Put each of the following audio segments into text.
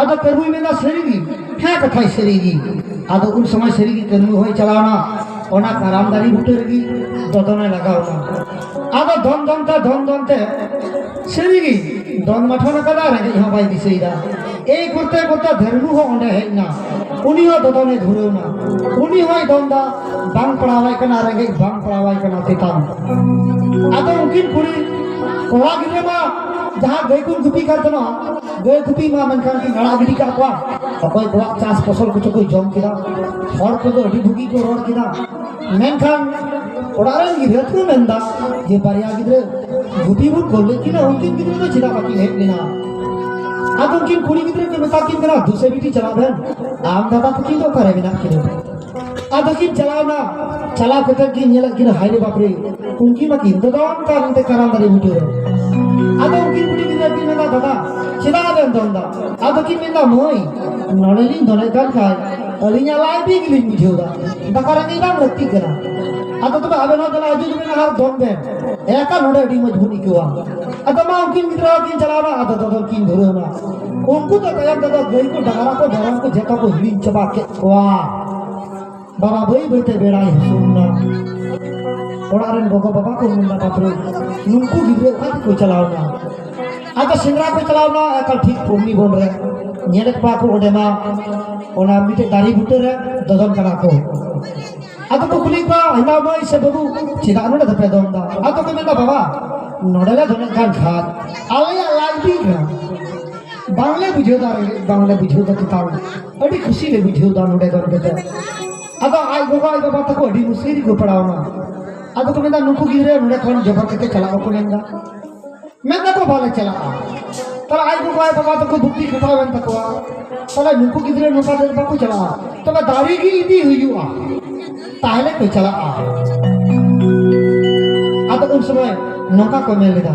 ᱟᱫᱚ ᱠᱟᱹᱨᱢᱩᱭ ᱢᱮᱱᱫᱟ ᱥᱟᱹᱨᱤᱜᱮ ᱦᱮᱸ ᱠᱟᱛᱷᱟᱭ ᱥᱟᱹᱨᱤᱜᱮ ᱟᱫᱚ ᱩᱱ ᱥᱚᱢᱚᱭ ᱥᱟᱹᱨᱤᱜᱮ ᱠᱟᱹᱨᱢᱩ ᱦᱚᱸᱭ ᱪᱟᱞᱟᱣᱱᱟ ᱚᱱᱟ ᱠᱟᱨᱟᱢ ᱫᱟᱨᱮ ᱵᱩᱴᱟᱹ ᱨᱮᱜᱮ ᱫᱚᱫᱚᱱᱮ ᱞᱟᱜᱟᱣᱱᱟ ᱟᱫᱚ ᱫᱚᱱ ᱫᱚᱱ ᱛᱮ ᱫᱚᱱ ᱫᱚᱱ ᱛᱮ ᱥᱟᱹᱨᱤᱜᱮ ᱫᱚᱱ ᱢᱟᱴᱷᱚᱱ ᱟᱠᱟᱫᱟ ᱨᱮᱸᱜᱮᱡ ᱦᱚᱸ ᱵᱟᱭ ᱫᱤᱥᱟᱹᱭᱮᱫᱟ ᱮᱭ ᱠᱚᱨᱛᱮ ᱠᱚᱨᱛᱮ ᱫᱷᱟᱹᱨᱢᱩ ᱦᱚᱸ ᱚᱸᱰᱮ ᱦᱮᱡ ᱮᱱᱟ ᱩᱱᱤ ᱦᱚᱸ ᱫᱚᱫᱚᱱᱮ ᱫᱷᱩᱨᱟᱹᱣᱱᱟ ᱩᱱᱤ ᱦᱚᱸᱭ ᱫᱚᱱᱫᱟ ᱵᱟᱝ ᱯᱟᱲᱟᱣᱟᱭ ᱠᱟᱱᱟ ᱨᱮᱸᱜᱮᱡ ᱵᱟᱝ ᱯᱟᱲᱟᱣᱟᱭ ᱠᱟᱱᱟ ᱛᱮᱛᱟᱝ ᱟᱫᱚ ᱩᱱᱠᱤᱱ ᱠᱩᱲᱤ ᱠᱚᱲᱟ ᱜᱤᱫᱽᱨᱟᱹ ᱢᱟ ᱡᱟᱦᱟᱸ ᱜᱟᱹᱭ ᱠᱚ ᱜᱩᱯᱤ ᱠᱟᱱ ᱛᱟᱦᱮᱱᱟ ᱜᱟᱹᱭ ᱠᱩᱯᱤ ᱢᱟ ᱢᱮᱱᱠᱷᱟᱱ ᱠᱤᱱ ᱟᱲᱟᱜ ᱜᱤᱰᱤ ᱠᱟᱜ ᱠᱚᱣᱟ ᱚᱠᱚᱭ ᱠᱚᱣᱟᱜ ᱪᱟᱥ ᱯᱷᱚᱥᱚᱞ ᱠᱚᱪᱚ ᱠᱚ ᱡᱚᱢ ᱠᱮᱫᱟ ᱦᱚᱲ ᱠᱚᱫᱚ ᱟᱹᱰᱤ ᱵᱷᱩᱜᱤ ᱠᱚ ᱨᱚᱲ ᱠᱮᱫᱟ ᱢᱮᱱᱠᱷᱟᱱ ᱚᱲᱟᱜ ᱨᱮᱱ ᱜᱤᱫᱽᱨᱟᱹ ᱠᱚ ᱢᱮᱱᱫᱟ ᱡᱮ ᱵᱟᱨᱭᱟ ᱜᱤᱫᱽᱨᱟᱹ ᱜᱩᱯᱤ ᱵᱚᱱ ᱠᱚᱞ ᱞᱮᱫ ᱠᱤᱱᱟ ᱩᱱᱠᱤᱱ ᱜᱤᱫᱽᱨᱟᱹ ᱫᱚ ᱪᱮᱫᱟᱜ ᱵᱟᱹᱠᱤᱱ ᱦᱮᱡ ᱞᱮᱱᱟ ᱟᱫᱚ ᱩᱱᱠᱤᱱ ᱠᱩᱲᱤ ᱜᱤᱫᱽᱨᱟᱹ ᱠᱚ ᱢᱮᱛᱟ ᱠᱤᱱ ᱠᱟᱱᱟ ᱫᱩᱥᱮ ᱵᱤᱴᱤ ᱪᱟᱞᱟᱜ ᱵᱮᱱ ᱟᱢ ᱫᱟᱫᱟ ᱛᱟᱹᱠᱤᱱ ᱫᱚ ᱚᱠᱟᱨᱮ ᱢᱮᱱᱟᱜ ᱠᱤᱱᱟ ᱟᱨ ᱵᱟᱹᱠᱤᱱ ᱪᱟᱞᱟᱣᱱᱟ ᱪᱟᱞᱟᱣ ᱠᱟᱛᱮ ᱠᱤᱱ ᱧᱮᱞᱮᱫ ᱠᱤᱱᱟ ᱦᱟᱭ ᱨᱮ ᱵᱟᱯᱨᱮ ᱩᱱᱠᱤᱱ ᱢᱟ ᱠᱤᱱ ᱫᱚᱫᱚᱱ ᱠᱟᱱ ᱚᱱᱛᱮ ᱠᱟᱨᱟᱢ ᱫᱟᱨᱮ ᱵᱩᱴᱟᱹ ᱨᱮ ᱟᱫᱚ ᱩᱱᱠᱤᱱ ᱠᱩᱲᱤ ᱜᱤᱫᱽᱨᱟᱹ ᱠᱤᱱ ᱢᱮᱱᱫᱟ ᱫᱟᱫᱟ ᱪᱮᱫᱟᱜ ᱵᱮᱱ ᱫᱚᱱ ᱫᱟ ᱟᱫᱚ ᱠᱤᱱ ᱢᱮᱱᱫᱟ ᱢᱟᱹᱭ ᱱᱚᱰᱮ ᱞᱤᱧ ᱫᱚᱱᱮᱫ ᱠᱟᱱ ᱠᱷᱟᱱ ᱟᱹᱞᱤᱧᱟᱜ ᱞᱟᱭ ᱵᱤ ᱜᱮᱞᱤᱧ ᱵᱩᱡᱷᱟᱹᱣ ᱫᱟ ᱫᱟᱠᱟ ᱨᱮᱸᱜᱮᱡ ᱵᱟᱝ ᱞᱟᱹᱠᱛᱤᱜ ᱠᱟᱱᱟ ᱟᱫᱚ ᱛᱚᱵᱮ ᱟᱵᱮᱱ ᱦᱚᱸ ᱫᱮᱞᱟ ᱦᱤᱡᱩᱜ ᱵᱮᱱ ᱟᱨ ᱫᱚᱱ ᱵᱮᱱ ᱮᱠᱟ ᱱᱚᱰᱮ ᱟᱹᱰᱤ ᱢᱚᱡᱽ ᱵᱚᱱ ᱟᱹᱭᱠᱟᱹᱣᱟ ᱟᱫᱚ ᱢᱟ ᱩᱱᱠᱤᱱ ᱜᱤᱫᱽᱨᱟᱹ ᱠᱤᱱ ᱪᱟᱞᱟᱣᱱᱟ ᱟᱫᱚ ᱫᱚᱫᱚᱱ ᱠᱤᱱ ᱫᱷᱩᱨᱟᱹᱣᱱᱟ ᱩᱱᱠᱩ ᱫᱚ ᱛᱟᱭᱚᱢ ᱛᱮᱫᱚ ᱜᱟᱹᱭ ᱠᱚ ᱰᱟᱝᱨᱟ ᱠᱚ ᱢᱮᱨᱚᱢ ᱠᱚ ᱡᱚᱛᱚ ᱠᱚ ᱦᱤᱲᱤᱧ ᱪᱟᱵᱟ ᱠᱮᱫ ᱠᱚᱣᱟ ᱵᱟᱵᱟ ᱵᱟᱹᱭ ᱵᱟᱹᱭᱛᱮ ᱵᱮᱲᱟᱭ ᱦᱟᱹᱥᱩᱨᱱᱟ ᱚᱲᱟᱜ ᱨᱮᱱ ᱜᱚᱜᱚ ᱵᱟᱵᱟ ᱠᱚ ᱢᱮᱱᱫᱟ ᱵᱟᱯᱨᱮ ᱱᱩᱠᱩ ᱜᱤᱫᱽᱨᱟᱹ ᱚᱠᱟ ᱛᱮᱠᱚ ᱪᱟᱞᱟᱣᱱᱟ ᱟᱫᱚ ᱥᱮᱸᱫᱽᱨᱟ ᱠᱚ ᱪᱟᱞᱟᱣᱱᱟ ᱮᱠᱟᱞ ᱴᱷᱤᱠ ᱯᱩᱨᱱᱤ ᱵᱚᱱ ᱨᱮ ᱧᱮᱞᱮᱫ ᱠᱚᱣᱟ ᱠᱚ ᱚᱸᱰᱮ ᱢᱟ ᱚᱱᱟ ᱢᱤᱫᱴᱮᱡ ᱫᱟᱨᱮ ᱵᱩᱴᱟᱹ ᱨᱮ ᱫᱚᱫᱚᱱ ᱠᱟᱱᱟ ᱠᱚ ᱟᱫᱚ ᱠᱚ ᱠᱩᱞᱤ ᱠᱚᱣᱟ ᱦᱮᱱᱟ ᱢᱟᱹᱭ ᱥᱮ ᱵᱟᱹᱵᱩ ᱪᱮᱫᱟᱜ ᱱᱚᱰᱮ ᱫᱚᱯᱮ ᱫᱚᱱ ᱫᱟ ᱟᱫᱚ ᱠᱚ ᱢᱮᱱᱫᱟ ᱵᱟᱵᱟ ᱱᱚᱰᱮ ᱞᱮ ᱫᱚᱱᱮᱫ ᱠᱟᱱ ᱠᱷᱟᱱ ᱟᱞᱮᱭᱟᱜ ᱞᱟᱡ ᱵᱤᱜ ᱠᱟᱱᱟ ᱵᱟᱝᱞᱮ ᱵᱩᱡᱷᱟᱹᱣ ᱫᱟᱲᱮᱭᱟᱜ ᱵᱟᱝᱞᱮ ᱵᱩᱡᱷᱟᱹᱣ ᱫᱟ ᱛᱟᱞ ᱟᱹᱰᱤ ᱠᱷᱩᱥᱤ ᱞᱮ ᱵᱩᱡᱷᱟᱹᱣ ᱫᱟ ᱱᱚᱰᱮ ᱫᱚ ᱱᱚᱰᱮ ᱫᱚ ᱟᱫᱚ ᱟᱡ ᱜᱚᱜᱚ ᱟᱡ ᱵᱟᱵᱟ ᱛᱟᱠᱚ ᱟᱹᱰᱤ ᱢᱩᱥᱠᱤᱞ ᱨᱮᱠᱚ ᱯᱟᱲᱟᱣᱱᱟ ᱟᱫᱚ ᱠᱚ ᱢᱮᱱᱫᱟ ᱱᱩᱠᱩ ᱜᱤᱫᱽᱨᱟᱹ ᱱᱚᱰᱮ ᱠᱷᱚᱱ ᱡᱚᱵᱚᱨ ᱠᱟᱛᱮ ᱪᱟᱞᱟᱜ ᱵᱟᱠᱚ ᱢᱮᱱᱫᱟ ᱢᱮᱱᱫᱟ ᱠᱚ ᱵᱟᱞᱮ ᱪᱟᱞᱟᱜᱼᱟ ᱛᱟᱦᱞᱮ ᱟᱡ ᱜᱚᱜᱚ ᱟᱡ ᱵᱟᱵᱟ ᱛᱟᱠᱚ ᱵᱩᱠᱛᱤ ᱠᱷᱟᱴᱟᱣᱮᱱ ᱛᱟᱠᱚᱣᱟ ᱛᱟᱦᱞᱮ ᱱᱩᱠᱩ ᱜᱤᱫᱽᱨᱟᱹ ᱱᱚᱝᱠᱟ ᱫᱚ ᱵᱟᱠᱚ ᱪᱟᱞᱟᱜᱼᱟ ᱛᱚᱵᱮ ᱫᱟᱨᱮ ᱜᱮ ᱤᱫᱤ ᱦᱩᱭᱩᱜᱼᱟ ᱛᱟᱦᱞᱮ ᱠᱚ ᱪᱟᱞᱟᱜᱼᱟ ᱟᱫᱚ ᱩᱱ ᱥᱚᱢᱚᱭ ᱱᱚᱝᱠᱟ ᱠᱚ ᱢᱮᱱ ᱞᱮᱫᱟ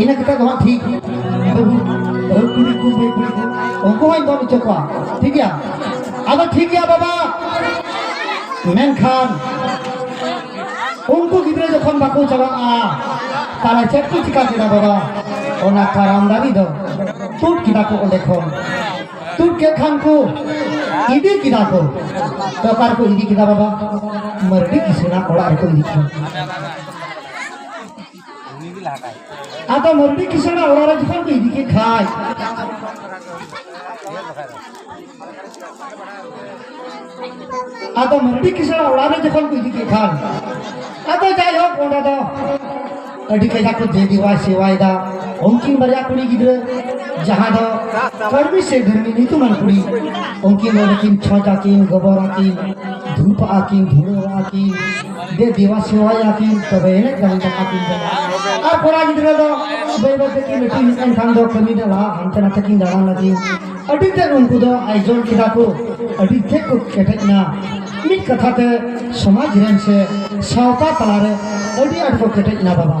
ᱤᱱᱟᱹ ᱠᱟᱛᱮ ᱫᱚ ᱦᱟᱸᱜ ᱴᱷᱤᱠ ᱵᱟᱹᱦᱩ ᱠᱩᱲᱤ ᱠᱚ ᱵᱟᱹᱭ ᱠᱩᱲᱤ ᱠᱚ ᱩᱱᱠᱩ ᱦᱚᱸᱧ ᱫᱚᱱ ᱦᱚᱪᱚ ᱠᱚᱣᱟ ᱴᱷᱤᱠ ᱜᱮᱭᱟ ᱟᱫᱚ ᱴᱷᱤᱠ ᱜᱮᱭᱟ ᱵᱟᱵᱟ ᱢᱮᱱᱠᱷᱟᱱ ᱩᱱᱠᱩ ᱜᱤᱫᱽᱨᱟᱹ ᱡᱚᱠᱷᱚᱱ ᱵᱟᱠᱚ ᱪᱟᱞᱟᱜᱼᱟ ᱛᱟᱦᱞᱮ ᱪᱮᱫ ᱠᱚ ᱪᱤᱠᱟ ᱠᱮᱫᱟ ᱵᱟᱵᱟ ᱚᱱᱟ ᱠᱟᱨᱟᱢ ᱫᱟᱨᱮ ᱫᱚ ᱛᱩᱫ ᱠᱮᱫᱟ ᱠᱚ ᱚᱸᱰᱮ ᱠᱷᱚᱱ ᱛᱩᱫ ᱠᱮᱫ ᱠᱷᱟᱱ ᱠᱚ ᱤᱫᱤ ᱠᱮᱫᱟ ᱠᱚ ᱛᱚ ᱚᱠᱟ ᱨᱮᱠᱚ ᱤᱫᱤ ᱠᱮᱫᱟ ᱵᱟᱵᱟ ᱢᱟᱹᱨᱰᱤ ᱠᱤᱥᱩᱱᱟᱜ ᱚᱲᱟᱜ ᱨᱮᱠᱚ ᱤᱫᱤ ᱠᱮᱫᱟ ᱟᱫᱚ ᱢᱩᱨᱛᱤ ᱠᱤᱥᱟᱹᱬ ᱚᱲᱟᱜ ᱨᱮ ᱡᱚᱠᱷᱚᱱ ᱠᱚ ᱤᱫᱤ ᱠᱮᱫ ᱠᱷᱟᱡ ᱟᱫᱚ ᱢᱩᱨᱛᱤ ᱠᱤᱥᱟᱹᱬ ᱚᱲᱟᱜ ᱨᱮ ᱡᱚᱠᱷᱚᱱ ᱠᱚ ᱤᱫᱤ ᱠᱮᱫ ᱠᱷᱟᱱ ᱟᱫᱚ ᱡᱟᱭᱦᱳᱠ ᱚᱸᱰᱮ ᱫᱚ ᱟᱹᱰᱤ ᱠᱟᱡᱟᱠ ᱠᱚ ᱫᱮᱵᱤᱣᱟᱭ ᱥᱮᱣᱟᱭᱮᱫᱟ ᱩᱱᱠᱤᱱ ᱵᱟᱨᱭᱟ ᱠᱩᱲᱤ ᱜᱤᱫᱽᱨᱟᱹ ᱡᱟᱦᱟᱸ ᱫᱚ ᱠᱚᱨᱢᱤ ᱥᱮ ᱫᱷᱟᱹᱨᱢᱤ ᱧᱩᱛᱩᱢᱟᱱ ᱠᱩᱲᱤ ᱩᱱᱠᱤᱱ ᱫᱚ ᱠᱤᱱ ᱪᱷᱚᱡᱽ ᱟᱹᱠᱤᱱ ᱜᱚᱵᱚᱨ ᱟᱹᱠᱤᱱ ᱫᱷᱩᱯ ᱟᱹᱠᱤᱱ ᱫᱷᱩᱲᱟᱹᱣ ᱟᱹᱠᱤᱱ ᱫᱮ ᱫᱮᱣᱟ ᱥᱮᱣᱟᱭ ᱟᱹᱠᱤᱱ ᱛᱚᱵᱮ ᱮᱱᱮᱡ ᱫᱟᱲᱮ ᱫᱟᱠᱟ ᱠᱤᱱ ᱡᱚᱢᱟ ᱟᱨ ᱠᱚᱲᱟ ᱜᱤᱫᱽᱨᱟᱹ ᱫᱚ ᱵᱟᱹᱭ ᱵᱟᱹᱭ ᱛᱮᱠᱤᱱ ᱞᱟᱹᱴᱩ ᱦᱮᱡ ᱮᱱ ᱠᱷᱟᱱ ᱫᱚ ᱠᱟᱹᱢᱤ ᱫᱚ ᱞᱟᱦᱟ ᱦᱟᱱᱛᱮ ᱱᱟᱛᱮ ᱠᱤᱱ ᱫᱟᱬᱟᱱ ᱞᱟᱹᱜᱤᱫ ᱟᱹᱰᱤ ᱛᱮᱫ ᱩᱱᱠᱩ ᱫᱚ ᱟᱭᱡᱚᱞ ᱠᱮᱫᱟ ᱠᱚ ᱟᱹᱰᱤ ᱛᱮᱫ ᱠᱚ ᱠᱮᱴᱮᱡ ᱮᱱᱟ ᱢᱤᱫ ᱠᱟᱛᱷᱟ ᱛᱮ ᱥᱚᱢᱟᱡᱽ ᱨᱮᱱ ᱥᱮ ᱥᱟᱶᱛᱟ ᱛᱟᱞᱟᱨᱮ ᱟᱹᱰᱤ ᱟᱸᱴ ᱠᱚ ᱠᱮᱴᱮᱡ ᱮᱱᱟ ᱵᱟᱵᱟ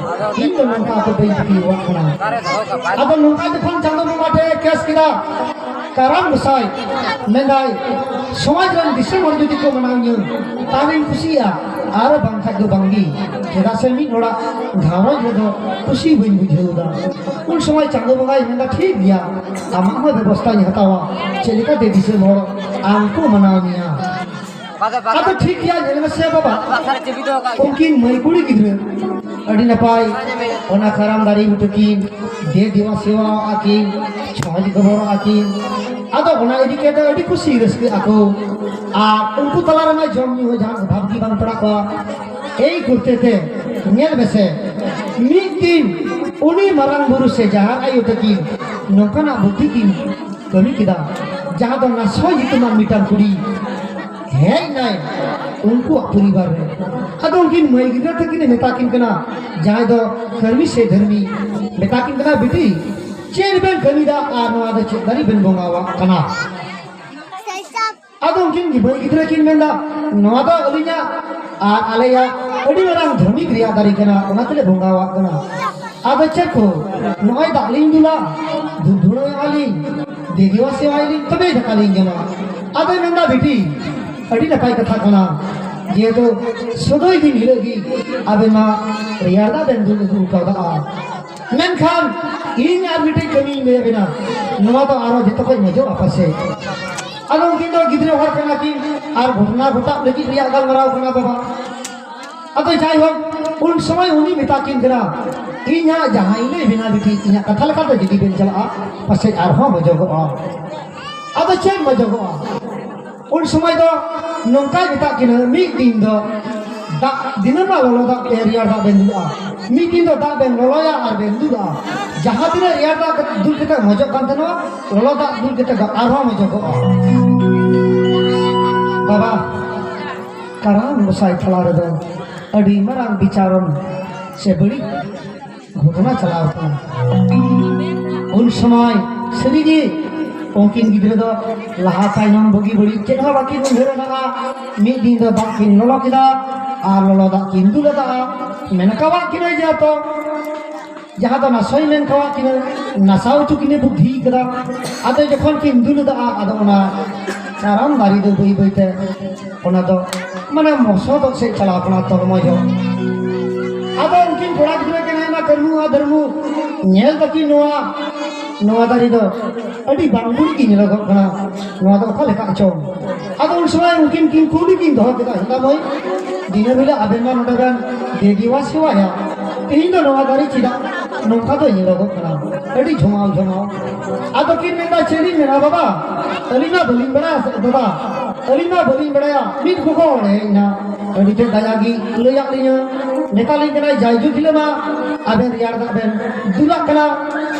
ᱤᱧ ᱫᱚ ᱱᱚᱝᱠᱟ ᱫᱚ ᱵᱟᱹᱧ ᱛᱟᱹᱠᱤᱣᱟᱜ ᱠᱟᱱᱟ ᱟᱫᱚ ᱱᱚᱝᱠᱟ ᱡᱚᱠᱷᱚᱱ ᱪᱟᱸᱫᱚ ᱵᱚᱸᱜᱟ ᱴᱷᱮ ᱠᱮᱥ ᱠᱮᱫᱟ ᱠᱟᱨᱟᱢ ᱜᱚᱥᱟᱭ ᱢᱮᱱᱫᱟᱭ ᱥᱚᱢᱟᱡᱽ ᱨᱮᱱ ᱫᱤᱥᱚᱢ ᱦᱚᱲ ᱡᱩᱫᱤ ᱠᱚ ᱢᱟᱱᱟᱣᱤᱧᱟᱹ ᱛᱟᱦᱚᱞᱮᱧ ᱠᱩᱥᱤᱜᱼᱟ ᱟᱨ ᱵᱟᱝᱠᱷᱟᱡ ᱫᱚ ᱵᱟᱝᱜᱮ ᱪᱮᱫᱟᱜ ᱥᱮ ᱢᱤᱫ ᱦᱚᱲᱟᱜ ᱜᱷᱟᱨᱚᱸᱡᱽ ᱨᱮᱫᱚ ᱠᱩᱥᱤ ᱵᱟᱹᱧ ᱵᱩᱡᱷᱟᱹᱣᱫᱟ ᱩᱱ ᱥᱚᱢᱚᱭ ᱪᱟᱸᱫᱚ ᱵᱚᱸᱜᱟᱭ ᱢᱮᱱᱫᱟ ᱴᱷᱤᱠ ᱜᱮᱭᱟ ᱟᱢᱟᱜ ᱦᱚᱸ ᱵᱮᱵᱚᱥᱛᱷᱟᱧ ᱦᱟᱛᱟᱣᱟ ᱪᱮᱫ ᱞᱮᱠᱟᱛᱮ ᱫᱤᱥᱚᱢ ᱦᱚᱲ ᱟᱢ ᱠᱚ ᱢᱟᱱᱟᱣ ᱢᱮᱭᱟ ᱟᱫᱚ ᱴᱷᱤᱠ ᱜᱮᱭᱟ ᱧᱮᱞ ᱢᱮᱥᱮ ᱵᱟᱵᱟ ᱩᱱᱠᱤᱱ ᱢᱟᱹᱭ ᱠᱩᱲᱤ ᱜᱤᱫᱽᱨᱟᱹ ᱟᱹᱰᱤ ᱱᱟᱯᱟᱭ ᱚᱱᱟ ᱠᱟᱨᱟᱢ ᱫᱟᱨᱮ ᱵᱩᱴᱟᱹ ᱠᱤᱱ ᱫᱮ ᱫᱮᱣᱟ ᱥᱮᱣᱟ ᱟᱹᱠᱤᱱ ᱪᱷᱚᱸᱪ ᱜᱚᱵᱚᱨ ᱟᱹᱠᱤᱱ ᱟᱫᱚ ᱚᱱᱟ ᱤᱫᱤ ᱠᱟᱛᱮ ᱟᱹᱰᱤ ᱠᱩᱥᱤ ᱨᱟᱹᱥᱠᱟᱹ ᱟᱠᱚ ᱟᱨ ᱩᱱᱠᱩ ᱛᱟᱞᱟ ᱨᱮᱢᱟ ᱡᱚᱢ ᱧᱩ ᱦᱚᱸ ᱡᱟᱦᱟᱸ ᱚᱵᱷᱟᱵ ᱜᱮ ᱵᱟᱝ ᱯᱟᱲᱟᱜ ᱠᱚᱣᱟ ᱮᱭ ᱠᱩᱨᱛᱮ ᱛᱮ ᱧᱮᱞ ᱢᱮᱥᱮ ᱢᱤᱫ ᱫᱤᱱ ᱩᱱᱤ ᱢᱟᱨᱟᱝ ᱵᱩᱨᱩ ᱥᱮ ᱡᱟᱦᱟᱸ ᱟᱭᱳ ᱛᱟᱹᱠᱤᱱ ᱱᱚᱝᱠᱟᱱᱟᱜ ᱵᱩᱫᱷᱤ ᱠᱤᱱ ᱠᱟᱹᱢᱤ ᱠᱮᱫᱟ ᱡᱟᱦᱟᱸ ᱫᱚ ᱚᱱᱟ ᱥᱚᱭ ᱧᱩᱛᱩᱢᱟᱱ ᱢᱤᱫᱴᱟᱝ ᱠᱩᱲᱤ ᱦᱮᱡ ᱱᱟᱭ ᱩᱱᱠᱩᱣᱟᱜ ᱯᱚᱨᱤᱵᱟᱨ ᱨᱮ ᱟᱫᱚ ᱩᱱᱠᱤᱱ ᱢᱟᱹᱭ ᱜᱤᱫᱽᱨᱟᱹ ᱛᱟᱹᱠᱤᱱᱮ ᱢᱮᱛᱟ ᱠᱤᱱ ᱠᱟᱱᱟ ᱡᱟᱦᱟᱸᱭ ᱫᱚ ᱠᱟᱹᱢᱤ ᱥᱮ ᱫᱷᱟᱹᱨᱢᱤ ᱢᱮᱛᱟ ᱠᱤᱱ ᱠᱟᱱᱟ ᱵᱤᱴᱤ ᱪᱮᱫ ᱵᱮᱱ ᱠᱟᱹᱢᱤᱫᱟ ᱟᱨ ᱱᱚᱣᱟ ᱫᱚ ᱪᱮᱫ ᱫᱟᱨᱮ ᱵᱮᱱ ᱵᱚᱸᱜᱟᱣᱟᱜ ᱠᱟᱱᱟ ᱟᱫᱚ ᱩᱱᱠᱤᱱ ᱜᱤᱫᱽᱨᱟᱹ ᱜᱤᱫᱽᱨᱟᱹ ᱠᱤᱱ ᱢᱮᱱᱫᱟ ᱱᱚᱣᱟ ᱫᱚ ᱟᱹᱞᱤᱧᱟᱜ ᱟᱨ ᱟᱞᱮᱭᱟᱜ ᱟᱹᱰᱤ ᱢᱟᱨᱟᱝ ᱫᱷᱟᱹᱢᱤᱠ ᱨᱮᱭᱟᱜ ᱫᱟᱨᱮ ᱠᱟᱱᱟ ᱚᱱᱟ ᱛᱮᱞᱮ ᱵᱚᱸᱜᱟᱣᱟᱜ ᱠᱟᱱᱟ ᱟᱫᱚ ᱪᱮᱫ ᱠᱚ ᱱᱚᱜᱼᱚᱭ ᱫᱟᱜ ᱞᱤᱧ ᱫᱩᱞᱟ ᱫᱷᱩᱯ ᱫᱷᱩᱲᱟᱹᱣᱮᱜᱼᱟ ᱞᱤᱧ ᱫᱮᱵᱤᱣᱟ ᱥᱮᱣᱟᱭᱟᱞᱤᱧ ᱛᱚᱵᱮ ᱫᱟᱠᱟ ᱞᱤᱧ ᱡᱚᱢᱟ ᱟᱫᱚ ᱢᱮᱱᱫᱟ ᱵᱤᱴᱤ ᱟᱹᱰᱤ ᱱᱟᱯᱟᱭ ᱠᱟᱛᱷᱟ ᱠᱟᱱᱟ ᱡᱮᱦᱮᱛᱩ ᱥᱩᱫᱩᱭ ᱫᱤᱱ ᱦᱤᱞᱳᱜ ᱜᱮ ᱟᱵᱮᱱ ᱢᱟ ᱨᱮᱭᱟᱲ ᱫᱟᱜ ᱵᱮᱱ ᱫᱩᱞ ᱟᱹᱜᱩ ᱠᱟᱣᱫᱟ ᱢᱮᱱᱠᱷᱟᱱ ᱤᱧ ᱟᱨ ᱢᱤᱫᱴᱮᱡ ᱠᱟᱹᱢᱤᱧ ᱞᱟᱹᱭ ᱟᱵᱮᱱᱟ ᱱᱚᱣᱟ ᱫᱚ ᱟᱨᱚ ᱡᱚᱛᱚ ᱠᱷᱚᱡ ᱢᱚᱡᱚᱜᱼᱟ ᱯᱟᱥᱮ ᱟᱫᱚ ᱩᱱᱠᱤᱱ ᱫᱚ ᱜᱤᱫᱽᱨᱟᱹ ᱦᱚᱲ ᱠᱟᱱᱟ ᱠᱤᱱ ᱟᱨ ᱜᱷᱚᱴᱱᱟ ᱜᱷᱚᱴᱟᱜ ᱞᱟᱹᱜᱤᱫ ᱨᱮᱭᱟᱜ ᱜᱟᱞᱢᱟᱨᱟᱣ ᱠᱟᱱᱟ ᱵᱟᱵᱟ ᱟᱫᱚ ᱡᱟᱭᱦᱳᱠ ᱩᱱ ᱥᱚᱢᱚᱭ ᱩᱱᱤ ᱢᱮᱛᱟ ᱠᱤᱱ ᱠᱟᱱᱟ ᱤᱧ ᱦᱟᱸᱜ ᱡᱟᱦᱟᱸᱭ ᱞᱟᱹᱭ ᱵᱮᱱᱟ ᱵᱤᱴᱤ ᱤᱧᱟᱹᱜ ᱠᱟᱛᱷᱟ ᱞᱮᱠᱟᱛᱮ ᱡᱩᱫᱤ ᱵᱮᱱ ᱪᱟᱞᱟᱜᱼᱟ ᱯᱟᱥᱮᱡ ᱟᱨᱦᱚᱸ ᱢᱚᱡᱚᱜᱚᱜᱼᱟ ᱟᱫᱚ ᱪᱮᱫ ᱢᱚᱡᱚᱜᱚᱜᱼᱟ ᱩᱱ ᱥᱚᱢᱚᱭ ᱫᱚ ᱱᱚᱝᱠᱟᱭ ᱢᱮᱛᱟᱜ ᱠᱤᱱᱟᱹ ᱢᱤᱫ ᱫᱤᱱ ᱫᱚ ᱫᱟᱜ ᱫᱤᱱᱟᱹᱢᱟᱜ ᱞᱚᱞᱚ ᱫᱟᱜ ᱛᱮ ᱨᱮᱭᱟᱲ ᱫᱟᱜ ᱵᱮᱱ ᱫᱩᱞᱟ ᱢᱤᱫ ᱫᱤᱱ ᱫᱚ ᱫᱟᱜ ᱵᱮᱱ ᱞᱚᱞᱚᱭᱟ ᱟᱨ ᱵᱮᱱ ᱫᱩᱞᱟ ᱡᱟᱦᱟᱸ ᱛᱤᱱᱟᱹᱜ ᱨᱮᱭᱟᱲ ᱫᱟᱜ ᱫᱩᱞ ᱠᱟᱛᱮ ᱢᱚᱡᱚᱜ ᱠᱟᱱ ᱛᱟᱦᱮᱱᱟ ᱞᱚᱞᱚ ᱫᱟᱜ ᱫᱩᱞ ᱠᱟᱛᱮ ᱫᱚ ᱟᱨᱦᱚᱸ ᱢᱚᱡᱚᱜᱚᱜᱼᱟ ᱵᱟᱵᱟ ᱠᱟᱨᱟᱢ ᱜᱚᱸᱥᱟᱭ ᱛᱟᱞᱟ ᱨᱮᱫᱚ ᱟᱹᱰᱤ ᱢᱟᱨᱟᱝ ᱵᱤᱪᱟᱨᱚᱱ ᱥᱮ ᱵᱟᱹᱲᱤᱡ ᱜᱷᱚᱴᱚᱱᱟ ᱪᱟᱞᱟᱣ ᱟᱠᱟᱱᱟ ᱩᱱ ᱥᱚᱢᱚᱭ ᱥᱟᱹᱨᱤᱜᱮ ᱩᱱᱠᱤᱱ ᱜᱤᱫᱽᱨᱟᱹ ᱫᱚ ᱞᱟᱦᱟ ᱛᱟᱭᱱᱚᱢ ᱵᱩᱜᱤ ᱵᱟᱹᱲᱤᱡ ᱪᱮᱫ ᱦᱚᱸ ᱵᱟᱹᱠᱤᱱ ᱩᱭᱦᱟᱹᱨ ᱟᱠᱟᱫᱼᱟ ᱢᱤᱫ ᱫᱤᱱ ᱫᱚ ᱫᱟᱜ ᱠᱤᱱ ᱞᱚᱞᱚ ᱠᱮᱫᱟ ᱟᱨ ᱞᱚᱞᱚ ᱫᱟᱜ ᱠᱤᱱ ᱫᱩᱞ ᱟᱫᱟ ᱢᱮᱱ ᱠᱟᱣᱟᱜ ᱠᱤᱱᱟᱹ ᱡᱮ ᱛᱚ ᱡᱟᱦᱟᱸ ᱫᱚ ᱱᱟᱥᱚᱭ ᱢᱮᱱ ᱠᱟᱣᱟᱜ ᱠᱤᱱᱟᱹ ᱱᱟᱥᱟᱣ ᱦᱚᱪᱚ ᱠᱤᱱᱟᱹ ᱵᱩᱫᱽᱫᱷᱤ ᱠᱟᱫᱟ ᱟᱫᱚ ᱡᱚᱠᱷᱚᱱ ᱠᱤᱱ ᱫᱩᱞ ᱟᱫᱟ ᱟᱫᱚ ᱚᱱᱟ ᱪᱟᱨᱟᱢ ᱫᱟᱨᱮ ᱫᱚ ᱵᱟᱹᱭ ᱵᱟᱹᱭᱛᱮ ᱚᱱᱟ ᱫᱚ ᱢᱟᱱᱮ ᱢᱚᱥᱚᱫᱚᱜ ᱥᱮᱫ ᱪᱟᱞᱟᱣ ᱠᱟᱱᱟ ᱛᱚᱨᱢᱚᱡ ᱦᱚᱸ ᱟᱫᱚ ᱩᱱᱠᱤᱱ ᱠᱚᱲᱟ ᱜᱤᱫᱽᱨᱟᱹ ᱠᱤᱱ ᱦᱮᱡ ᱮᱱᱟ ᱠᱟᱹᱨᱢᱩ ᱟᱨ ᱫᱷᱟᱹᱨᱢᱩ ᱧᱮᱞ ᱫᱟᱠᱤᱱ ᱱᱚᱣᱟ ᱱᱚᱣᱟ ᱫᱟᱨᱮ ᱫᱚ ᱟᱹᱰᱤ ᱵᱟᱝ ᱵᱩᱲᱤ ᱜᱮ ᱧᱮᱞᱚᱜᱚᱜ ᱠᱟᱱᱟ ᱱᱚᱣᱟ ᱫᱚ ᱚᱠᱟ ᱞᱮᱠᱟ ᱪᱚ ᱟᱫᱚ ᱩᱱ ᱥᱚᱢᱚᱭ ᱩᱱᱠᱤᱱ ᱠᱤᱱ ᱠᱩᱞᱤ ᱠᱤᱱ ᱫᱚᱦᱚ ᱠᱮᱫᱟ ᱦᱮᱸᱫᱟ ᱢᱟᱹᱭ ᱫᱤᱱᱟᱹᱢ ᱦᱤᱞᱳᱜ ᱟᱵᱮᱱ ᱢᱟ ᱱᱚᱰᱮ ᱵᱮᱱ ᱫᱮᱵᱤᱣᱟ ᱥᱮᱣᱟᱭᱟ ᱛᱮᱦᱮᱧ ᱫᱚ ᱱᱚᱣᱟ ᱫᱟᱨᱮ ᱪᱮᱫᱟᱜ ᱱᱚᱝᱠᱟ ᱫᱚ ᱧᱮᱞᱚᱜᱚᱜ ᱠᱟᱱᱟ ᱟᱹᱰᱤ ᱡᱷᱚᱢᱟᱣ ᱡᱷᱚᱢᱟᱣ ᱟᱫᱚ ᱠᱤᱱ ᱢᱮᱱᱫᱟ ᱪᱮᱫ ᱤᱧ ᱢᱮᱱᱟ ᱵᱟᱵᱟ ᱟᱹᱞᱤᱧ ᱢᱟ ᱵᱟᱹᱞᱤᱧ ᱵᱟᱲᱟᱭᱟ ᱵᱟᱵᱟ ᱟᱹᱞᱤᱧ ᱢᱟ ᱵᱟᱹᱞᱤᱧ ᱵᱟᱲᱟᱭᱟ ᱢᱤᱫ ᱠᱚᱠᱚ ᱚᱲᱮ ᱤᱧᱟ ᱟᱹᱰᱤ ᱛᱮ ᱫᱟᱭᱟ ᱜᱮ ᱞᱟᱹᱭᱟᱫ ᱞᱤᱧᱟ ᱢᱮᱛᱟᱞᱤᱧ ᱠᱟᱱᱟᱭ ᱡᱟᱭᱡᱩᱜᱽ ᱦᱤᱞᱳᱜ ᱢᱟ ᱟᱵᱮᱱ ᱨᱮᱭᱟᱲ ᱫᱟᱜ ᱵᱮᱱ ᱫᱩᱞᱟᱜ ᱠᱟᱱᱟ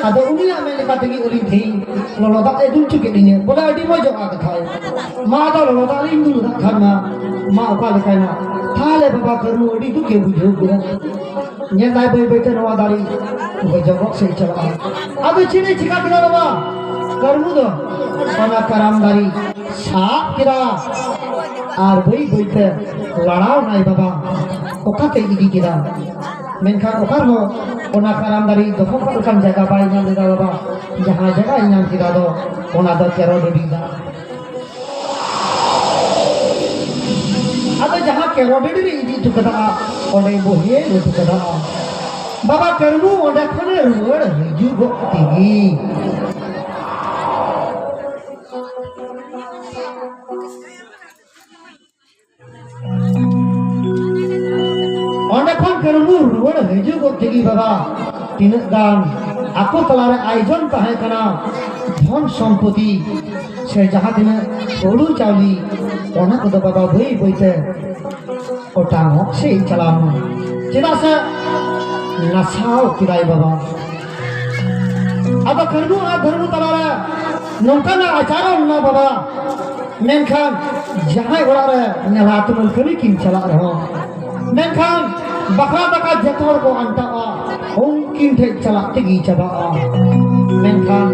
ᱟᱫᱚ ᱩᱱᱤᱭᱟᱜ ᱢᱮᱱ ᱞᱮᱠᱟ ᱛᱮᱜᱮ ᱟᱹᱞᱤᱧ ᱛᱮᱦᱮᱧ ᱞᱚᱞᱚ ᱫᱟᱜ ᱮ ᱫᱩᱞ ᱦᱚᱪᱚ ᱠᱮᱫ ᱞᱤᱧᱟ ᱵᱚᱞᱮ ᱟᱹᱰᱤ ᱢᱚᱡᱚᱜᱼᱟ ᱠᱟᱛᱷᱟᱭ ᱢᱟ ᱟᱫᱚ ᱞᱚᱞᱚ ᱫᱟᱜ ᱞᱤᱧ ᱫᱩᱞ ᱫᱟᱜ ᱠᱷᱟᱱ ᱢᱟ ᱢᱟ ᱚᱠᱟ ᱞᱮᱠᱟᱭᱱᱟ ᱛᱟᱦᱞᱮ ᱵᱟᱵᱟ ᱠᱟᱹᱨᱩ ᱟᱹᱰᱤ ᱫᱩᱠᱮ ᱵᱩᱡᱷᱟᱹᱣ ᱠᱮᱫᱟ ᱧᱮᱞ ᱫᱟᱭ ᱵᱟᱹᱭ ᱵᱟᱹᱭᱛᱮ ᱱᱚᱣᱟ ᱫᱟᱨᱮ ᱜᱚᱡᱚᱜᱚᱜ ᱥᱮᱫ ᱪᱟᱞᱟᱜᱼᱟ ᱟᱫᱚ ᱪᱮᱬᱮ ᱪᱤᱠᱟ ᱠᱮᱫᱟ ᱵᱟᱵᱟ ᱠᱟᱹᱨᱢᱩ ᱫᱚ ᱚᱱᱟ ᱠᱟᱨᱟᱢ ᱫᱟᱨᱮ ᱥᱟᱵ ᱠᱮᱫᱟ ᱟᱨ ᱵᱟᱹᱭ ᱵᱟᱹᱭᱛᱮ ᱞᱟᱲᱟᱣ ᱱᱟᱭ ᱵᱟᱵᱟ ᱚᱠᱟᱛᱮ ᱤᱫᱤ ᱠᱮᱫᱟ ᱢᱮᱱᱠᱷᱟᱱ ᱚᱠᱟ ᱨᱮᱦᱚᱸ ᱚᱱᱟ ᱠᱟᱨᱟᱢ ᱫᱟᱨᱮ ᱫᱚᱦᱚ ᱠᱟᱜ ᱞᱮᱠᱟᱱ ᱡᱟᱭᱜᱟ ᱵᱟᱭ ᱧᱟᱢ ᱞᱮᱫᱟ ᱵᱟᱵᱟ ᱡᱟᱦᱟᱸ ᱡᱟᱭᱜᱟᱭ ᱧᱟᱢ ᱠᱮᱫᱟ ᱫᱚ ᱚᱱᱟ ᱫᱚ ᱛᱮᱨᱚ ᱰᱮᱵᱤ ᱫᱟᱜ ᱟᱫᱚ ᱡᱟᱦᱟᱸ ᱠᱮᱨᱚᱰᱮᱰ ᱨᱮ ᱤᱫᱤ ᱦᱚᱴᱚ ᱠᱟᱫᱟ ᱚᱸᱰᱮ ᱵᱚ ᱦᱮᱡ ᱦᱚᱴᱚ ᱠᱟᱫᱟ ᱵᱟᱵᱟ ᱠᱟᱹᱨᱢᱩ ᱚᱸᱰᱮ ᱠᱷᱚᱱᱮ ᱨᱩᱣᱟᱹᱲ ᱦᱤᱡᱩᱜᱚᱜ ᱛᱮᱜᱮ ᱚᱸᱰᱮ ᱠᱷᱚᱱ ᱠᱟᱹᱨᱩ ᱨᱩᱣᱟᱹᱲ ᱦᱤᱡᱩᱜ ᱜᱚᱫ ᱛᱮᱜᱮ ᱵᱟᱵᱟ ᱛᱤᱱᱟᱹᱜ ᱜᱟᱱ ᱟᱠᱚ ᱛᱟᱞᱟᱨᱮ ᱟᱭᱳᱡᱚᱱ ᱛᱟᱦᱮᱸ ᱠᱟᱱᱟ ᱫᱷᱚᱱ ᱥᱚᱢᱯᱚᱛᱤ ᱥᱮ ᱡᱟᱦᱟᱸ ᱛᱤᱱᱟᱹᱜ ᱦᱩᱲᱩ ᱪᱟᱣᱞᱮ ᱚᱱᱟ ᱠᱚᱫᱚ ᱵᱟᱵᱟ ᱵᱟᱹᱭ ᱵᱟᱹᱭᱛᱮ ᱚᱴᱟᱝᱚᱜ ᱥᱮ ᱪᱟᱞᱟᱣ ᱪᱮᱫᱟᱜ ᱥᱮ ᱱᱟᱥᱟᱣ ᱠᱮᱫᱟᱭ ᱵᱟᱵᱟ ᱟᱫᱚ ᱠᱟᱹᱨᱜᱩ ᱟᱨ ᱫᱷᱟᱹᱨᱢᱩ ᱛᱟᱞᱟᱨᱮ ᱱᱚᱝᱠᱟᱱᱟᱜ ᱟᱪᱟᱨᱚ ᱢᱮᱱᱟᱜ ᱵᱟᱵᱟ ᱢᱮᱱᱠᱷᱟᱱ ᱡᱟᱦᱟᱸᱭ ᱚᱲᱟᱜ ᱨᱮ ᱱᱮᱞᱟ ᱛᱩᱢᱟᱹᱞ ᱠᱟᱹᱢᱤ ᱠᱤᱱ ᱪᱟᱞᱟᱜ ᱨᱮᱦᱚᱸ ᱢᱮᱱᱠᱷᱟᱱ ᱵᱟᱠᱷᱨᱟ ᱫᱟᱠᱟ ᱡᱚᱛᱚ ᱦᱚᱲ ᱠᱚ ᱟᱱᱴᱟᱜᱼᱟ ᱩᱱᱠᱤᱱ ᱴᱷᱮᱡ ᱪᱟᱞᱟᱜ ᱛᱮᱜᱮ ᱪᱟᱵᱟᱜᱼᱟ ᱢᱮᱱᱠᱷᱟᱱ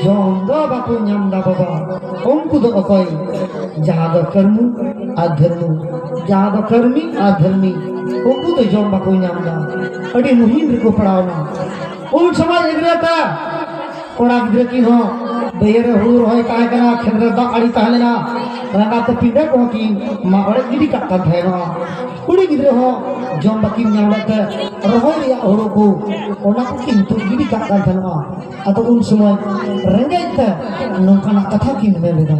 ᱡᱚᱢ ᱫᱚ ᱵᱟᱠᱚ ᱧᱟᱢ ᱫᱟ ᱵᱟᱵᱟ ᱩᱱᱠᱩ ᱫᱚ ᱚᱠᱚᱭ ᱡᱟᱦᱟᱸ ᱫᱚ ᱠᱟᱹᱨᱢᱩ ᱟᱨ ᱫᱷᱟᱹᱨᱢᱩ ᱡᱟᱦᱟᱸ ᱫᱚ ᱠᱟᱹᱨᱢᱤ ᱟᱨ ᱫᱷᱟᱹᱨᱢᱤ ᱩᱱᱠᱩ ᱫᱚ ᱡᱚᱢ ᱵᱟᱠᱚ ᱧᱟᱢ ᱫᱟ ᱟᱹᱰᱤ ᱢᱩᱦᱤᱢ ᱨᱮᱠᱚ ᱯᱟᱲᱟᱣᱱᱟ ᱩᱱ ᱥᱚᱢᱚᱭ ᱜᱤᱫᱽᱨᱟᱹ ᱛᱮ ᱠᱚᱲᱟ ᱜᱤᱫᱽᱨᱟᱹ ᱠᱤᱱ ᱦᱚᱸ ᱵᱟᱹᱭᱦᱟᱹᱲ ᱨᱮ ᱦᱩᱲᱩ ᱨᱚᱦᱚᱭ ᱛᱟᱦᱮᱸ ᱠᱟᱱᱟ ᱠᱷᱮᱛ ᱨᱮ ᱫᱟᱜ ᱟᱲᱮ ᱛᱟᱦᱮᱸ ᱞᱮᱱᱟ ᱨᱟᱸᱜᱟ ᱛᱮ ᱯᱤᱸᱰᱟᱹ ᱠᱚᱦᱚᱸ ᱠᱤᱱ ᱢᱟᱜ ᱚᱲᱮᱡ ᱜᱤᱰᱤ ᱠᱟᱜ ᱠᱟᱱ ᱛᱟᱦᱮᱱᱟ ᱠᱩᱲᱤ ᱜᱤᱫᱽᱨᱟᱹ ᱦᱚᱸ ᱡᱚᱢ ᱵᱟᱹᱠᱤᱱ ᱧᱟᱢ ᱞᱮᱫ ᱛᱮ ᱨᱚᱦᱚᱭ ᱨᱮᱭᱟᱜ ᱦᱩᱲᱩ ᱠᱚ ᱚᱱᱟ ᱠᱚ ᱠᱤᱱ ᱛᱩᱫ ᱜᱤᱰᱤ ᱠᱟᱜ ᱠᱟᱱ ᱛᱟᱦᱮᱱᱟ ᱟᱫᱚ ᱩᱱ ᱥᱚᱢᱚᱭ ᱨᱮᱸᱜᱮᱡ ᱛᱮ ᱱᱚᱝᱠᱟᱱᱟᱜ ᱠᱟᱛᱷᱟ ᱠᱤᱱ ᱢᱮᱱ ᱞᱮᱫᱟ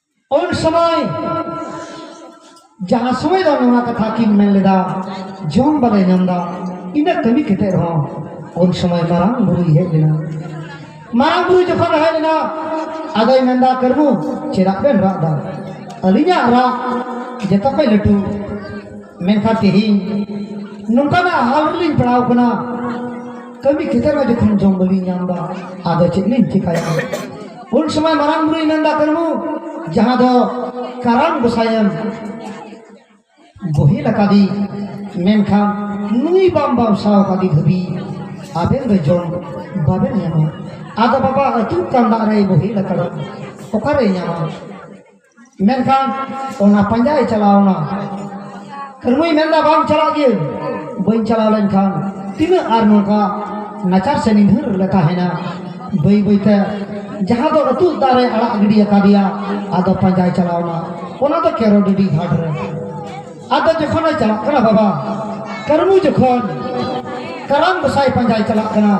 ᱩᱱ ᱥᱚᱢᱚᱭ ᱡᱟᱦᱟᱸ ᱥᱚᱢᱚᱭ ᱫᱚ ᱱᱚᱣᱟ ᱠᱟᱛᱷᱟ ᱠᱤᱱ ᱢᱮᱱ ᱞᱮᱫᱟ ᱡᱚᱢ ᱵᱟᱞᱮ ᱧᱟᱢ ᱫᱟ ᱤᱱᱟᱹ ᱠᱟᱹᱢᱤ ᱠᱟᱛᱮ ᱨᱮᱦᱚᱸ ᱩᱱ ᱥᱚᱢᱚᱭ ᱢᱟᱨᱟᱝ ᱵᱩᱨᱩᱭ ᱦᱮᱡ ᱞᱮᱱᱟ ᱢᱟᱨᱟᱝ ᱵᱩᱨᱩ ᱡᱚᱠᱷᱚᱱ ᱦᱮᱡ ᱞᱮᱱᱟ ᱟᱫᱚᱭ ᱢᱮᱱᱫᱟ ᱠᱟᱹᱨᱢᱩ ᱪᱮᱫᱟᱜ ᱵᱮᱱ ᱨᱟᱜ ᱫᱟ ᱟᱹᱞᱤᱧᱟᱜ ᱨᱟᱜ ᱡᱚᱛᱚ ᱠᱷᱚᱡ ᱞᱟᱹᱴᱩ ᱢᱮᱱᱠᱷᱟᱱ ᱛᱮᱦᱮᱧ ᱱᱚᱝᱠᱟᱱᱟᱜ ᱦᱟᱞ ᱨᱮᱞᱤᱧ ᱯᱟᱲᱟᱣ ᱠᱟᱱᱟ ᱠᱟᱹᱢᱤ ᱠᱷᱮᱛᱮᱨ ᱢᱟ ᱡᱚᱠᱷᱚᱱ ᱡᱚᱢ ᱵᱟᱹᱞᱤᱧ ᱧᱟᱢ ᱮᱫᱟ ᱟᱫᱚ ᱪᱮᱫ ᱞᱤᱧ ᱪᱤᱠᱟᱭᱟ ᱩᱱ ᱥᱚᱢᱚᱭ ᱢᱟᱨᱟᱝ ᱵᱩᱨᱩᱭ ᱢᱮᱱᱫᱟ ᱠᱟᱹᱱᱦᱩ ᱡᱟᱦᱟᱸ ᱫᱚ ᱠᱟᱨᱟᱢ ᱜᱚᱥᱟᱭᱮᱢ ᱵᱚᱦᱮᱞ ᱟᱠᱟᱫᱤ ᱢᱮᱱᱠᱷᱟᱱ ᱱᱩᱭ ᱵᱟᱢ ᱵᱟᱢᱥᱟᱣ ᱟᱠᱟᱫᱤ ᱫᱷᱟᱹᱵᱤᱡ ᱟᱵᱮᱱ ᱫᱚ ᱡᱚᱢ ᱵᱟᱵᱮᱱ ᱧᱟᱢᱟ ᱟᱫᱚ ᱵᱟᱵᱟ ᱟᱹᱛᱩ ᱠᱟᱱ ᱫᱟᱜ ᱨᱮᱭ ᱵᱚᱦᱮᱞ ᱟᱠᱟᱫᱟ ᱚᱠᱟᱨᱮ ᱧᱟᱢᱟ ᱢᱮᱱᱠᱷᱟᱱ ᱚᱱᱟ ᱯᱟᱸᱡᱟᱭ ᱪᱟᱞᱟᱣᱱᱟ ᱠᱟᱹᱨᱢᱩᱭ ᱢᱮᱱᱫᱟ ᱵᱟᱝ ᱪᱟᱞᱟᱜ ᱜᱮ ᱵᱟᱹᱧ ᱪᱟᱞᱟᱣ ᱞᱮᱱᱠᱷᱟᱱ ᱛᱤᱱᱟᱹᱜ ᱟᱨ ᱱᱚᱝᱠᱟ ᱱᱟᱪᱟᱨ ᱥᱮ ᱱᱤᱫᱷᱟᱹᱨ ᱞᱮ ᱛᱟᱦᱮᱱᱟ ᱵᱟᱹᱭ ᱵᱟᱹᱭᱛᱮ ᱡᱟᱦᱟᱸ ᱫᱚ ᱟᱹᱛᱩ ᱫᱟᱨᱮ ᱟᱲᱟᱜ ᱜᱤᱰᱤ ᱟᱠᱟᱫᱮᱭᱟ ᱟᱫᱚ ᱯᱟᱸᱡᱟᱭ ᱪᱟᱞᱟᱣᱱᱟ ᱚᱱᱟ ᱫᱚ ᱠᱮᱨᱚ ᱰᱤᱰᱤ ᱜᱷᱟᱴ ᱨᱮ ᱟᱫᱚ ᱡᱚᱠᱷᱚᱱᱮ ᱪᱟᱞᱟᱜ ᱠᱟᱱᱟ ᱵᱟᱵᱟ ᱠᱟᱹᱨᱢᱩ ᱡᱚᱠᱷᱚᱱ ᱠᱟᱨᱟᱢ ᱜᱚᱥᱟᱭ ᱯᱟᱸᱡᱟᱭ ᱪᱟᱞᱟᱜ ᱠᱟᱱᱟ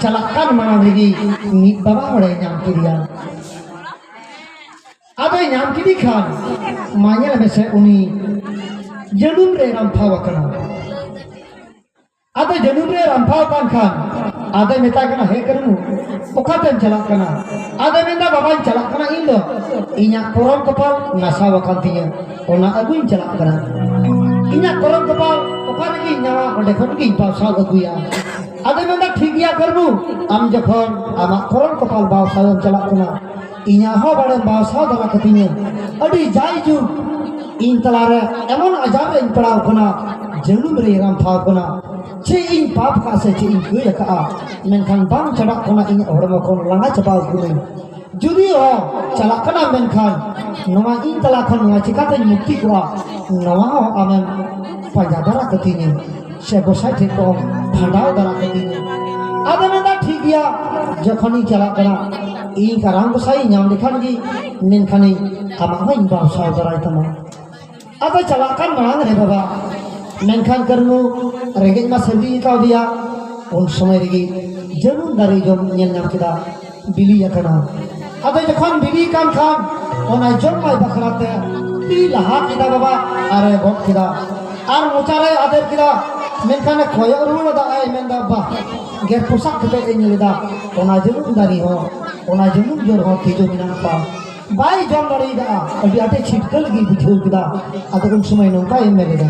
ᱪᱟᱞᱟᱜ ᱠᱟᱱ ᱢᱟᱲᱟᱝ ᱨᱮᱜᱮ ᱢᱤᱫ ᱵᱟᱵᱟ ᱦᱚᱲᱮ ᱧᱟᱢ ᱠᱮᱫᱮᱭᱟ ᱟᱫᱚᱭ ᱧᱟᱢ ᱠᱮᱫᱮ ᱠᱷᱟᱱ ᱢᱟ ᱧᱮᱞ ᱢᱮᱥᱮ ᱩᱱᱤ ᱡᱟᱹᱱᱩᱢ ᱨᱮ ᱨᱟᱢᱯᱷᱟᱣ ᱟᱠᱟᱱᱟ ᱟᱫᱚ ᱡᱟᱹᱱᱩᱢ ᱨᱮ ᱨᱟᱢᱯᱷᱟᱣ ᱟᱠᱟᱱ ᱠᱷᱟᱱ ᱟᱫᱚᱭ ᱢᱮᱛᱟᱭ ᱠᱟᱱᱟ ᱦᱮ ᱠᱟᱹᱱᱩ ᱚᱠᱟᱛᱮᱢ ᱪᱟᱞᱟᱜ ᱠᱟᱱᱟ ᱟᱫᱚᱭ ᱢᱮᱱᱫᱟ ᱵᱟᱵᱟᱧ ᱪᱟᱞᱟᱜ ᱠᱟᱱᱟ ᱤᱧ ᱫᱚ ᱤᱧᱟᱹᱜ ᱠᱚᱨᱚᱢ ᱠᱚᱯᱟᱞ ᱱᱟᱥᱟᱣ ᱟᱠᱟᱱ ᱛᱤᱧᱟᱹ ᱚᱱᱟ ᱟᱹᱜᱩᱧ ᱪᱟᱞᱟᱜ ᱠᱟᱱᱟ ᱤᱧᱟᱹᱜ ᱠᱚᱨᱚᱢ ᱠᱚᱯᱟᱞ ᱚᱠᱟ ᱨᱮᱜᱮᱧ ᱧᱟᱢᱟ ᱚᱸᱰᱮ ᱠᱷᱚᱱ ᱜᱤᱧ ᱯᱟᱣᱥᱟᱣ ᱟᱹᱜᱩᱭᱟ ᱟᱫᱚᱭ ᱢᱮᱱᱫᱟ ᱴᱷᱤᱠ ᱜᱮᱭᱟ ᱠᱟᱹᱱᱩ ᱟᱢ ᱡᱚᱠᱷᱚᱱ ᱟᱢᱟᱜ ᱠᱚᱨᱚᱢ ᱠᱚᱯᱟᱞ ᱯᱟᱣᱥᱟᱣᱮᱢ ᱪᱟᱞᱟᱜ ᱠᱟᱱᱟ ᱤᱧᱟᱹᱜ ᱦᱚᱸ ᱵᱟᱲᱮ ᱵᱟᱥᱟ ᱫᱟᱞᱟ ᱠᱟᱛᱤᱧ ᱟᱹᱰᱤ ᱡᱟᱭ ᱡᱩᱜᱽ ᱤᱧ ᱛᱟᱞᱟᱨᱮ ᱮᱢᱚᱱ ᱟᱡᱟᱨ ᱨᱮᱧ ᱯᱟᱲᱟᱣ ᱠᱟᱱᱟ ᱡᱟᱹᱱᱩᱢ ᱨᱮ ᱨᱟᱢ ᱴᱷᱟᱶ ᱠᱟᱱᱟ ᱪᱮᱫ ᱤᱧ ᱯᱟᱯ ᱠᱟᱜ ᱥᱮ ᱪᱮᱫ ᱤᱧ ᱠᱟᱹᱭ ᱟᱠᱟᱜᱼᱟ ᱢᱮᱱᱠᱷᱟᱱ ᱵᱟᱝ ᱪᱟᱵᱟᱜ ᱠᱟᱱᱟ ᱤᱧᱟᱹᱜ ᱦᱚᱲᱢᱚ ᱠᱷᱚᱱ ᱞᱟᱸᱜᱟ ᱪᱟᱵᱟᱣ ᱠᱟᱹᱱᱟᱹᱧ ᱡᱩᱫᱤ ᱦᱚᱸ ᱪᱟᱞᱟᱜ ᱠᱟᱱᱟ ᱢᱮᱱᱠᱷᱟᱱ ᱱᱚᱣᱟ ᱤᱧ ᱛᱟᱞᱟ ᱠᱷᱚᱱ ᱱᱚᱣᱟ ᱪᱤᱠᱟᱛᱮᱧ ᱢᱩᱠᱛᱤ ᱠᱚᱜᱼᱟ ᱱᱚᱣᱟ ᱦᱚᱸ ᱟᱢᱮᱢ ᱯᱟᱸᱡᱟ ᱫᱟᱨᱟ ᱠᱟᱹᱛᱤᱧᱟ ᱥᱮ ᱜᱚᱥᱟᱭ ᱴᱷᱮᱱ ᱠᱚ ᱵᱷᱟᱸᱰᱟᱣ ᱫᱟᱨᱟ ᱠᱟᱹᱛᱤᱧᱟ ᱟᱫᱚ ᱢᱮᱱᱫᱟ ᱴᱷᱤᱠ ᱜᱮᱭᱟ ᱡᱚᱠᱷᱚᱱᱤᱧ ᱪᱟᱞᱟᱜ ᱠᱟᱱᱟ ᱤᱧ ᱠᱟᱨᱟᱢ ᱜᱚᱥᱟᱭ ᱧᱟᱢ ᱞᱮᱠᱷᱟᱱ ᱜᱮ ᱢᱮᱱᱠᱷᱟᱱᱤᱧ ᱟᱢᱟᱜ ᱦᱚᱸᱧ ᱵᱟᱵᱥᱟᱣ ᱫᱟᱨᱟᱭ ᱛᱟᱢᱟ ᱟᱫᱚ ᱪᱟᱞᱟᱜ ᱠᱟᱱ ᱢᱟᱲᱟᱝ ᱨᱮ ᱵᱟᱵᱟ ᱢᱮᱱᱠᱷᱟᱱ ᱠᱟᱹᱨᱢᱩ ᱨᱮᱸᱜᱮᱡ ᱢᱟ ᱥᱟᱹᱨᱫᱤ ᱠᱟᱣᱫᱮᱭᱟ ᱩᱱ ᱥᱚᱢᱚᱭ ᱨᱮᱜᱮ ᱡᱟᱹᱱᱩᱢ ᱫᱟᱨᱮ ᱡᱚᱢ ᱧᱮᱞ ᱧᱟᱢ ᱠᱮᱫᱟ ᱵᱤᱞᱤ ᱟᱠᱟᱱᱟ ᱟᱫᱚ ᱡᱚᱠᱷᱚᱱ ᱵᱤᱞᱤ ᱠᱟᱱ ᱠᱷᱟᱱ ᱚᱱᱟ ᱡᱚᱢᱟᱭ ᱵᱟᱠᱷᱨᱟ ᱛᱮ ᱛᱤ ᱞᱟᱦᱟ ᱠᱮᱫᱟ ᱵᱟᱵᱟ ᱟᱨᱮ ᱜᱚᱫ ᱠᱮᱫᱟ ᱟᱨ ᱢᱚᱪᱟᱨᱮ ᱟᱫᱮᱨ ᱠᱮᱫᱟ ᱢᱮᱱᱠᱷᱟᱱ ᱠᱚᱭᱚᱜ ᱨᱩᱣᱟᱹᱲ ᱟᱫᱟ ᱟᱭ ᱢᱮᱱᱫᱟ ᱵᱟ ᱜᱮᱨ ᱯᱚᱥᱟᱜ ᱠᱟᱛᱮ ᱮ ᱧᱮᱞ ᱮᱫᱟ ᱚᱱᱟ ᱡᱟᱹᱱᱩᱢ ᱫᱟᱨᱮ ᱦᱚᱸ ᱚᱱᱟ ᱡᱟᱹᱱᱩᱢ ᱡᱚᱨ ᱦᱚᱸ ᱛᱤᱡᱩ ᱢᱮᱱᱟᱜ ᱠᱚᱣᱟ ᱵᱟᱭ ᱡᱚᱢ ᱫᱟᱲᱮᱭᱟᱫᱟ ᱟᱹᱰᱤ ᱟᱸᱴᱮ ᱪᱷᱤᱴᱠᱟᱹ ᱞᱟᱹᱜᱤᱫ ᱵᱩᱡᱷᱟᱹᱣ ᱠᱮᱫᱟ ᱟᱫᱚ ᱩᱱ ᱥᱚᱢᱚᱭ ᱱᱚᱝᱠᱟᱭ ᱢᱮᱱ ᱮᱫᱟ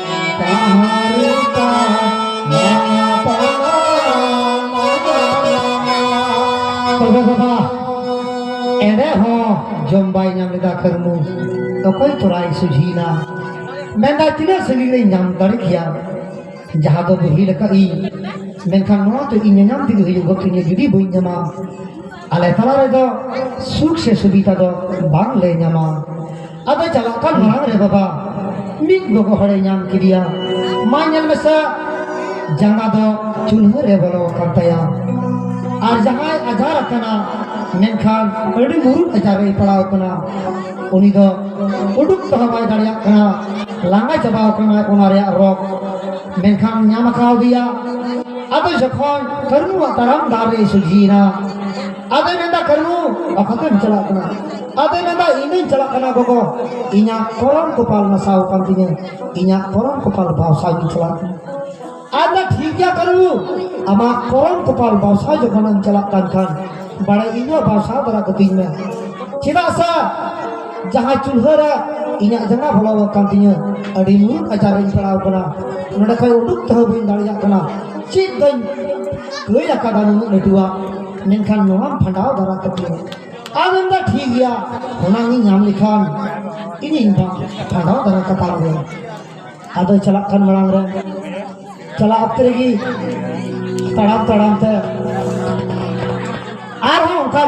ᱮᱸᱰᱮ ᱦᱚᱸ ᱡᱚᱢ ᱵᱟᱭ ᱧᱟᱢ ᱞᱮᱫᱟ ᱠᱟᱹᱨᱢᱩ ᱚᱠᱚᱭ ᱛᱚᱨᱟᱭ ᱥᱩᱡᱷᱤᱭᱮᱱᱟ ᱢᱮᱱᱫᱟ ᱛᱤᱱᱟᱹᱜ ᱥᱟᱺᱜᱤᱧ ᱨᱮᱧ ᱧᱟᱢ ᱫᱟᱲᱮ ᱠᱮᱭᱟ ᱡᱟᱦᱟᱸ ᱫᱚ ᱵᱩᱦᱤᱞ ᱟᱠᱟᱫ ᱤᱧ ᱢᱮᱱᱠᱷᱟᱱ ᱱᱚᱣᱟ ᱫᱚ ᱤᱧ ᱧᱟᱢ ᱛᱮᱜᱮ ᱦᱩᱭᱩᱜ ᱜᱚᱛᱤᱧᱟ ᱡᱩᱫᱤ ᱵᱟᱹᱧ ᱧᱟᱢᱟ ᱟᱞᱮ ᱛᱟᱞᱟ ᱨᱮᱫᱚ ᱥᱩᱠ ᱥᱮ ᱥᱩᱵᱤᱫᱷᱟ ᱫᱚ ᱵᱟᱝ ᱞᱮ ᱧᱟᱢᱟ ᱟᱫᱚ ᱪᱟᱞᱟᱜ ᱠᱟᱱ ᱢᱟᱲᱟᱝ ᱨᱮ ᱵᱟᱵᱟ ᱢᱤᱫ ᱜᱚᱜᱚ ᱦᱚᱲᱮ ᱧᱟᱢ ᱠᱮᱫᱮᱭᱟ ᱢᱟ ᱧᱮᱞ ᱢᱮᱥᱟ ᱡᱟᱸᱜᱟ ᱫᱚ ᱪᱩᱞᱦᱟᱹ ᱨᱮ ᱵᱚᱞᱚ ᱟᱠᱟᱱ ᱛᱟᱭᱟ ᱟᱨ ᱡᱟᱦᱟᱸᱭ ᱟᱡᱟᱨ ᱟᱠᱟᱱᱟ ᱢᱮᱱᱠᱷᱟᱱ ᱟᱹᱰᱤ ᱢᱩᱨᱩᱫ ᱟᱡᱟᱨ ᱨᱮᱭ ᱯᱟᱲᱟᱣ ᱠᱟᱱᱟ ᱩᱱᱤ ᱫᱚ ᱩᱰᱩᱠ ᱛᱮᱦᱚᱸ ᱵᱟᱭ ᱫᱟᱲᱮᱭᱟᱜ ᱠᱟᱱᱟ ᱞᱟᱸᱜᱟ ᱪᱟᱵᱟᱣ ᱠᱟᱱᱟᱭ ᱚᱱᱟ ᱨᱮᱭᱟᱜ ᱨᱚᱜᱽ ᱢᱮᱱᱠᱷᱟᱱ ᱧᱟᱢ ᱟᱠᱟᱣ ᱫᱮᱭᱟ ᱟᱫᱚ ᱡᱚᱠᱷᱚᱱ ᱠᱟᱹᱨᱩᱣᱟᱜ ᱛᱟᱲᱟᱢ ᱰᱟᱦᱟᱨ ᱨᱮ ᱥᱚᱡᱷᱤᱭᱮᱱᱟ ᱟᱫᱚᱭ ᱢᱮᱱᱫᱟ ᱠᱟᱹᱨᱩ ᱚᱠᱟᱛᱮᱢ ᱪᱟᱞᱟᱜ ᱠᱟᱱᱟ ᱟᱫᱚᱭ ᱢᱮᱱᱫᱟ ᱤᱧᱤᱧ ᱪᱟᱞᱟᱜ ᱠᱟᱱᱟ ᱜᱚᱜᱚ ᱤᱧᱟᱹᱜ ᱠᱚᱨᱚᱢ ᱠᱚᱯᱟᱞ ᱱᱟᱥᱟᱣ ᱟᱠᱟᱱ ᱛᱤᱧᱟᱹ ᱤᱧᱟᱹᱜ ᱠᱚᱨᱚᱢ ᱠᱚᱯᱟᱞ ᱵᱟᱣᱥᱟᱣ ᱤᱧ ᱪᱟᱞᱟᱜ ᱠᱟᱱᱟ ᱟᱫᱚ ᱴᱷᱤᱠ ᱜᱮᱭᱟ ᱠᱟᱹᱨᱩ ᱟᱢᱟᱜ ᱠᱚᱨᱚᱢ ᱠᱚᱯᱟᱞ ᱵᱟᱣᱥᱟᱣ ᱡᱚᱠᱷᱚᱱᱮᱢ ᱪᱟᱞᱟᱜ ᱠᱟᱱ ᱠᱷᱟᱱ ᱵᱟᱲᱟᱭ ᱤᱧ ᱦᱚᱸ ᱵᱟᱣᱥᱟᱣ ᱵᱟᱲᱟ ᱠᱟᱹᱛᱤᱧ ᱢᱮ ᱪᱮᱫᱟᱜ ᱥᱮ ᱡᱟᱦᱟᱸ ᱪᱩᱞᱦᱟᱹ ᱨᱮ ᱤᱧᱟᱹᱜ ᱡᱟᱸᱜᱟ ᱵᱚᱞᱚ ᱟᱠᱟᱱ ᱛᱤᱧᱟᱹ ᱟᱹᱰᱤ ᱢᱩᱨᱩᱠ ᱟᱡᱟᱨ ᱨᱤᱧ ᱯᱟᱲᱟᱣ ᱠᱟᱱᱟ ᱱᱚᱰᱮ ᱠᱷᱚᱱ ᱩᱰᱩᱠ ᱛᱮᱦᱚᱸ ᱵᱟᱹᱧ ᱫᱟᱲᱮᱭᱟᱜ ᱠᱟᱱᱟ ᱪᱮᱫ ᱫᱚᱧ ᱠᱟᱹᱭ ᱟᱠᱟᱫᱟ ᱱᱩᱱᱟᱹᱜ ᱞᱟᱹᱴᱩᱣᱟᱜ ᱢᱮᱱᱠᱷᱟᱱ ᱱᱚᱣᱟᱢ ᱯᱷᱟᱸᱰᱟᱣ ᱫᱟᱨᱟ ᱠᱟᱛᱤᱧ ᱟᱨ ᱢᱮᱱᱫᱟ ᱴᱷᱤᱠ ᱜᱮᱭᱟ ᱚᱱᱟ ᱤᱧ ᱧᱟᱢ ᱞᱮᱠᱷᱟᱱ ᱤᱧᱤᱧ ᱯᱷᱟᱸᱰᱟᱣ ᱫᱟᱨᱟ ᱠᱟᱛᱟᱢ ᱜᱮ ᱟᱫᱚ ᱪᱟᱞᱟᱜ ᱠᱟᱱ ᱢᱟᱲᱟᱝ ᱨᱮ ᱪᱟᱞᱟᱜ ᱚᱠᱛᱮ ᱨᱮᱜᱮ ᱛᱟᱲᱟᱢ ᱛᱟᱲᱟᱢ ᱛᱮ ᱟᱨᱦᱚᱸ ᱚᱱᱠᱟ